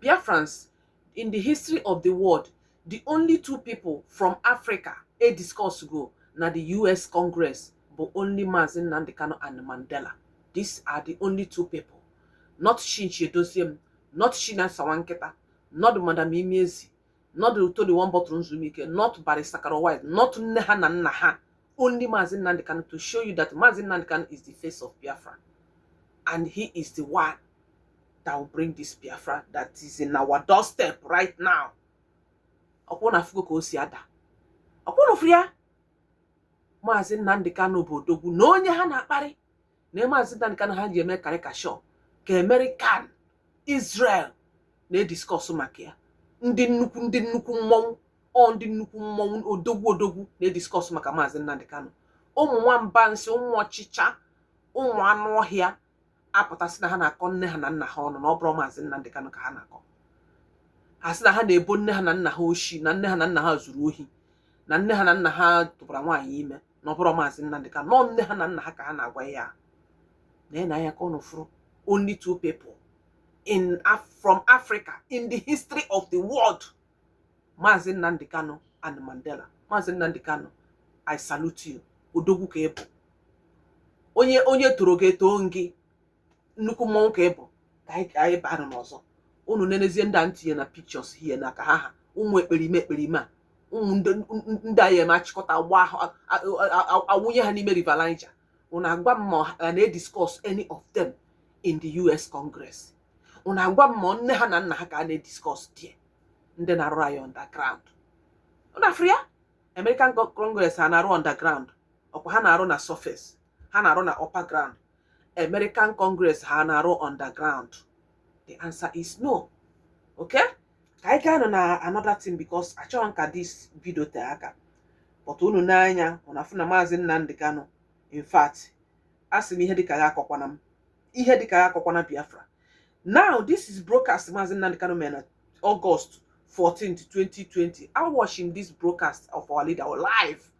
Biafrans in the history of the world the only two people from Africa e discuss go na the US Congress bụ only Maazị Nnamdi Kanu and Mandela these are the only two people not Chinchi Edoziem not Chinasa Nwankịta not Madam Imiezi not Tony one bottle Nzumike, not Barrister Caro White, not nne ha na nna ha. Only Maazị Nnamdi Kanu to show you that Maazị Nnamdi Kanu is the face of Biafra. And he is the one that will bring this Biafra that is in our doorstep right now. Ọkwa unu afụgo ka o si ada. Ọkwa unu fụrụ ya. Maazị Nnamdi Kanu bụ odogwu na onye ha na-akparị. na maazị Nnamdi Kanu ha ji eme karịkashọ ka American Israel na-ediskọsụ maka ya ndị nnukwu ndị nnukwu mmọnwụ o ndị nnukwu mmọnwụ odogwu odogwu na-ediskọsụ maka maazị Nnamdi Kanu ụmụ nwamba nsị ụmụ ọchịcha ụmụ anụ ọhịa apụta sị na ha na-akọ nne ha na nna ha ọnụ na ọ bụrọ maazị Nnamdi Kanu ka ha na-akọ ha sị na ha na-ebo nne ha na nna ha oshi na nne ha na nna ha zuru ohi na nne ha na nna ha tụbara nwaanyị ime na ọ bụrọ maazị Nnamdi Kanu na ọ nne ha na nna ha ka ha na-agwa ya n'anya n'anya ka ụnụ fụrụ only two people from Africa in the history of the world maazị Nnamdi Kanu and Mandela maazị Nnamdi Kanu I salute you odogwu ka ị bụ onye onye toro gị etoo gị nnukwu mmọnwụ ka ị bụ ka anyị ka anyị baa n'ọzọ unu nenezie ndị a m tinye na pictures here na ka ha ha ụmụ ekperime ekperime a ụmụ ndị ndị anyị eme achịkọta gba ahụ a- a- a- a- awụnye ha n'ime river niger unu agwa m ma a na-ediscuss any of them in the us congress unu agwa m ma nne ha na nna ha ka a na-ediscuss there ndị na-arụ anyị underground unu afụrụ ya american Con- congress ha na-arụ underground ọkwa ha na-arụ na surface ha na-arụ na upper ground American Congress ha na-arụ underground the answer is no okay ka anyị gaa na another thing because achọghị m ka this video tee aka but unu ne anya unu afụ na maazị Nnamdi Kanu in fact a sị m ihe dịka ya akọkwana m ihe dịka ya akọkwana Biafra now this is broadcast maazị Nnamdi Kanu mere na August 14 2020 I watching this broadcast of our leader live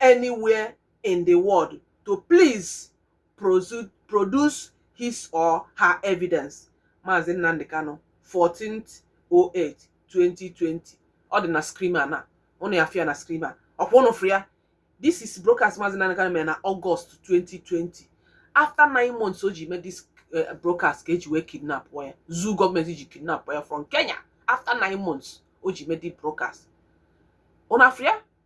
anywhere in the world to please prosu- produce his or her evidence Maazị Nnamdi Kanu 14th 08 2020 ọ dị na screen a na ụnụ ya-afụ ya na screen a ọkwa ụnụ fụrụ ya this is broadcast Maazị Nnamdi Kanu mere na August 2020 after nine months o ji mee this eh, broadcast ka e ji wee kidnap ya zoo gọọmenti ji kidnap ya from Kenya after nine months o ji mee this broadcast ụnụ afụrụ ya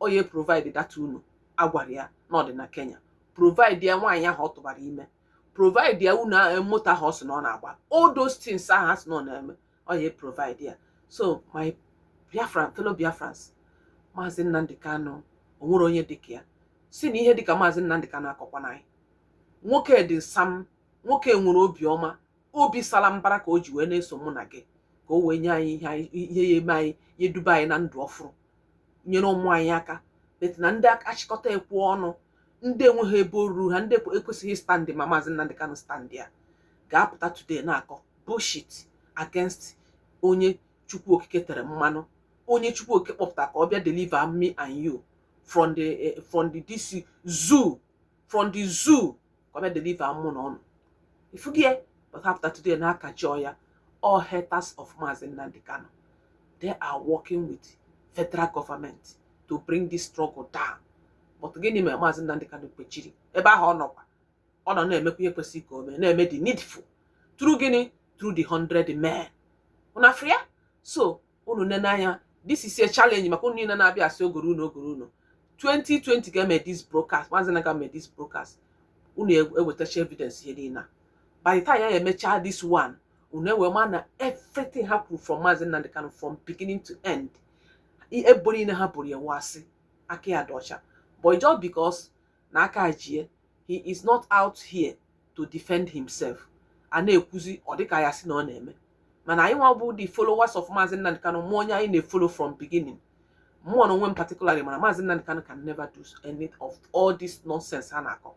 ọ ya provide data unu agwara ya na ọ dị na kenya provide ya nwaanyị ahụ ọ tụbara ime provide ya unu a- moto ahụ ọ sị na ọ na-agba all those things ahụ a sị na ọ na-eme ọ ya provide ya so my biafran fellow biafrans maazị nnamdị kanụ o nwere onye dịka ya si na ihe dịka maazị nnamdị kanụ akọkwana anyị nwoke dị sam nwoke nwere obiọma obi sala mbara ka o ji wee na-eso mụ na gị ka o wee nye anyị ihe anyị- ihe ya eme anyị ya eduba anyị na ndụ ọfụrụ nyere ụmụ anyị aka bet na ndị achịkọta ekwe ọnụ ndị enweghị ebe o ruru ha ndị ekwesịghị standị ma maazị Nnamdi Kanu standị ya ga-apụta today na-akọ bullshit against onye Chukwu Okike tere mmanụ onye Chukwu Okike kpọpụta ka ọ bịa deliver me and you from the eh, from the this zoo from the zoo ka ọ bịa deliver mụ na unu ị fụ gị ya kpatapụta today na-akajọ ya all haters of Mazi Nnamdi Kanu they are working with federal government to bring this struggle down but gịnị mere Mazi Nnamdi Kanu kpechiri ebe ahụ ọ nọkwa ọ nọ na-emekwa ihe kwesịrị ka o mee na-eme the needful through gịnị through the hundred men unu afụrụ ya so unu nene anya this is a challenge maka unu niile na-abịa asị ogoro unu ogoro unu 2020 ga-eme this broadcast maazị na ga eme this broadcast unu ewetacha evidence ihe niile a by the time ya emechaa this one unu ewee ma na everything ha kwuru from maazị Nnamdi Kanu from beginning to end ebubo niile ha boro ya wụ asị aka ya dị ọcha but just because na aka ji ya he is not out here to defend himself a na-ekwuzi ọ dịka ya si na ọ na-eme mana anyị nwa bụ the followers of Maazị Nnamdi Kanu ma onye anyị na-efolo from beginning mụ nwa onwe m particularly ma na Maazị Nnamdi Kanu can never do any of all this nonsense ha na-akọ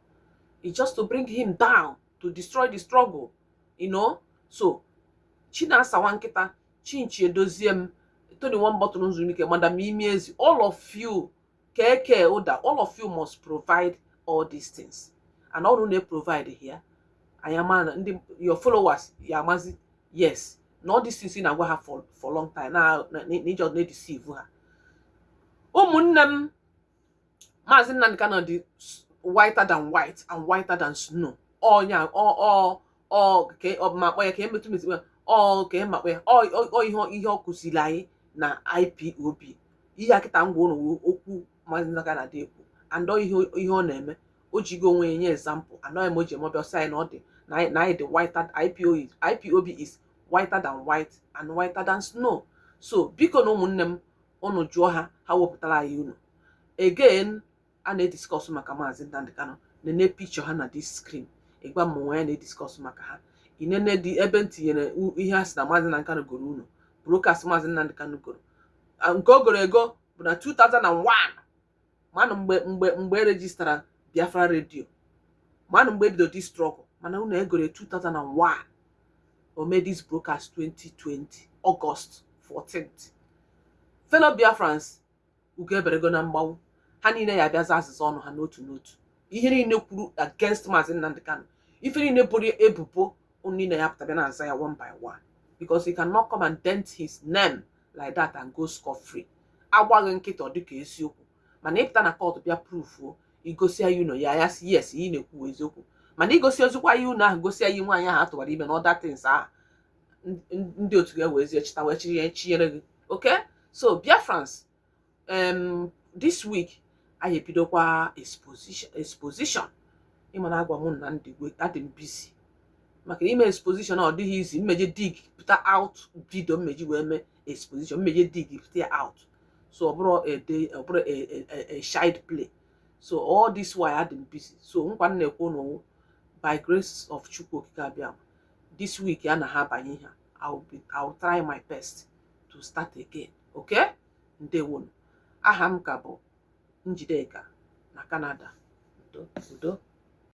it's just to bring him down to destroy the struggle you know so Chinasa nwa nkịta Chinchi Edoziem Tony Nwambọtụrụ Nzulike Madam Imi ezi all of you keke ụda all of you must provide all these things and ọ bụrụ na ị provideghị ya anyị ama na ndị your followers ya amazi yes na all these things ị na-agwa ha for for long time na na- na ị just na-edisivu ha ụmụnne m maazị Nnamdi Kanu dị s- whiter than white and whiter than snow ọ ya ọ ọ ọ ka ọ bụ ma akpọ ya ka emetụ metụ ya ọ ka ị makpọ ya ọ ọ- ọ ihe ihe ọ kụziri anyị na IPOB ihe a kịta m gwa unu wụ okwu maazị Nnamdi Kanu na-adị ekwu and ọ ihe ihe ọ na-eme o jigo onwe ya nye ezampụ and ọ ihe me o ji eme ọ bịa ọ sị anyị na ọ dị na anyị na anyị dị whiter IPO is- IPOB is whiter than white and whiter than snow so biko na ụmụnne m unu jụọ ha ha wepụtara anyị unu again a na-ediskọsụ maka maazị Nnamdi Kanu nene picture ha na this screen ịgwa m nwa ya na-ediskọsụ maka ha inene dị ebe m tinyere u- ihe a sị na maazị Nnamdi Kanu goro ụnọ broadcast maazị Nnamdi Kanu goro Ah, nke o goro ego bụ na 2001 manụ mgbe mgbe mgbe e rejistara Biafra radio manụ mgbe e bido this struggle mana ụnọ e goro 2001 o made this broadcast 2020 August 14th fellow Biafrans ugo eberego na mgbagbu ha niile ya-abịa za azịza ọnụ ha n'otu n'otu ihe niile kwuru against maazị Nnamdi Kanu ife niile boro ebubo unu niile ya-apụta bịa na-aza ya one by one because he cannot come and dent his name like that and go scot-free a gwa gị kịta ọ dịka eziokwu mana ịpụta na court bịa prufuo i gosi anyị ụnọ anyị asị yes ị na-ekwu eziokwu mana i gosirozikwa anyị ụnọ ahụ gosi anyị nwaanyị ahụ a tụwara ime na other things ahụ ndị otu gị wee zie chịta wee chiri ya chinyere gị okay so Biafrans em this week anyị ebidokwa exposition exposition ịma na agwa mụ na ndị gwe adị m busy maka ime exposition ọ dịghị easy mmeje dig pụta out video mmeji wee mee exposition mmeje dig pụta ya out so ọ bụrọ a day ọ bụrọ a a- a- a child's play so all this while adị m busy so nkwa m na-ekwe unu by grace of Chukwu Okike Abịa this week ya na ha abanye ha I'll try my best to start again okay ndewonu aha m ka bụ Njideka na Canada udo udo